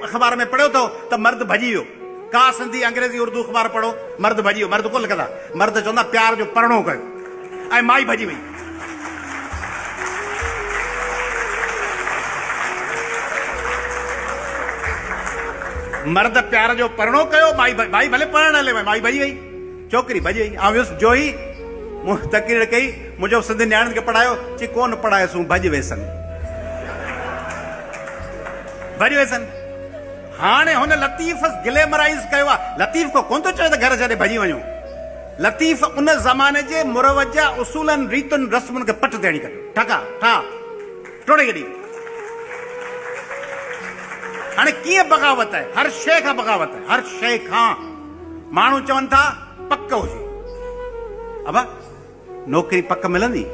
اخبار ۾ پڙهيو اٿو ته مرد ڀڄي ويو. ڪا سنڌي، انگريزي، اردو اخبار پڙهو، مرد ڀڄي ويو. مرد ڪونه لکندا. مرد چوندا پيار جو پرڻو ڪيو ۽ مائي ڀڄي وئي. مرد پيار جو پرڻو ڪيو، مائي ڀڄي وئي. مائي ڀلي پرڻڻ هلي وئي، مائي ڀڄي وئي. ڇوڪري ڀڄي آئي. آئون ويس جوهي مون تقرير ڪئي، مون چيو سنڌين نياڻين کي پڙهايو، چي ڪونه پڙهايس هو ڀڄ ويسن. ڀڄ ويسن. هاڻي هن لطيف گليمرائيز ڪيو آهي. لطيف ڪو ڪونه ٿو چوي ته گهر ڇڏي ڀڄي وڃو. لطيف ان زماني جي مروجه اصولن، ريتن، رسمن کي پٽ تي هڻي ڪڍيو. ٺڪا، ٺاء، ٽوڙي ڇڏي. هاڻي ڪيئن بغاوت آهي؟ هر شيء کان بغاوت آهي. هر شيء کان. ماڻهو چون ٿا پڪ هجي. ابا نوڪري پڪ ملندي؟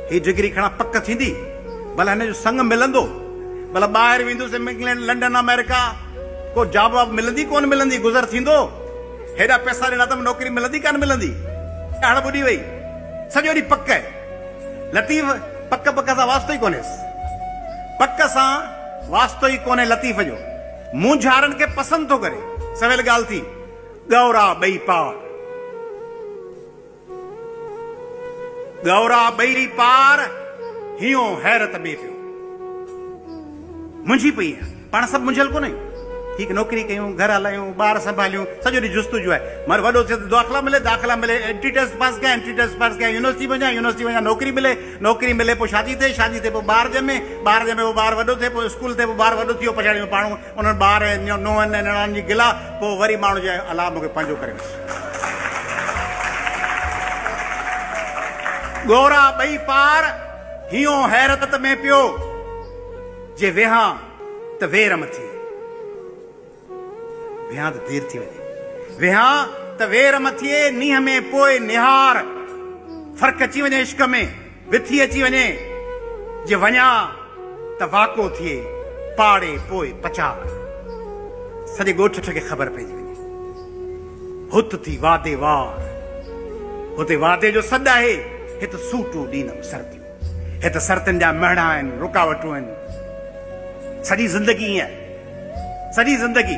هي ڊگري کڻا پڪ ٿيندي؟ ڀلا هن جو سڱ ملندو؟ ڀلا ٻاهر ويندس انگلينڊ لنڊن آمريڪا ڪو جاب واب ملندي ڪونه ملندي گذر ٿيندو؟ هيڏا پئسا ڏنا اٿم نوڪري ملندي ڪانه ملندي؟ اڙ ٻڏي وئي سڄو ڏينهن پڪ. لطيف پڪ پڪ سان واسطو ئي ڪونهيس. پڪ سان واسطو ئي ڪونهي لطيف جو. مونجهارن کي پسند ٿو ڪري. سويل ڳالهه ٿي، ڳئورا ٻئي پار. ڳئورا ٻئي پار، هينئو حيرت ۾ پيو. منجهي پئي آهيان. پاڻ سڀ منجهيل ڪونه آهيون. ٺيڪ نوڪري ڪيون، گهر هلايون، ٻار سنڀاليون، سڄو ڏينهن جستجو آهي. مگر وڏو ٿيس ته داخلا ملي، داخلا ملي، انٽري ٽيسٽ پاس ڪيان، انٽري ٽيسٽ پاس ڪيان، يونيورسٽي وڃان، يونيورسٽي وڃان نوڪري ملي، نوڪري ملي پوء شادي ٿئي، شادي ٿئي پوء ٻار ڄمي، ٻار ڄمي پوء ٻار وڏو ٿئي، پوء اسڪول ٿئي، پوء ٻار وڏو ٿي ويو، پڇاڙيء ۾ پاڻهون انهن ٻار ۽ نونهن ۽ نڻان جي گلا، پوء وري ماڻهو چئي، الله مون کي پنهنجو ڪري وٺ. ڳورا ٻئي پار هيون حيرت ۾ پيو، جي ويهان ته وير مٿي. ويهان ته دير ٿي وڃي. ويهان ته وير مٿي نينهن ۾ پوء نهار. فرق اچي وڃي عشق ۾ وٿي اچي وڃي. جي وڃان ته واڪو ٿئي پاڙي پوء پچار. سڄي ڳوٺ ٺٺ کي خبر پئجي وڃي. هت ٿي وعدي وار. هتي وعدي جو سڏ آهي هت سوٽون ڏيندم سرديون. هي ته سرتين جا مهڙا آهن، رڪاوٽون آهن. سڄي زندگي ائين. سڄي زندگي.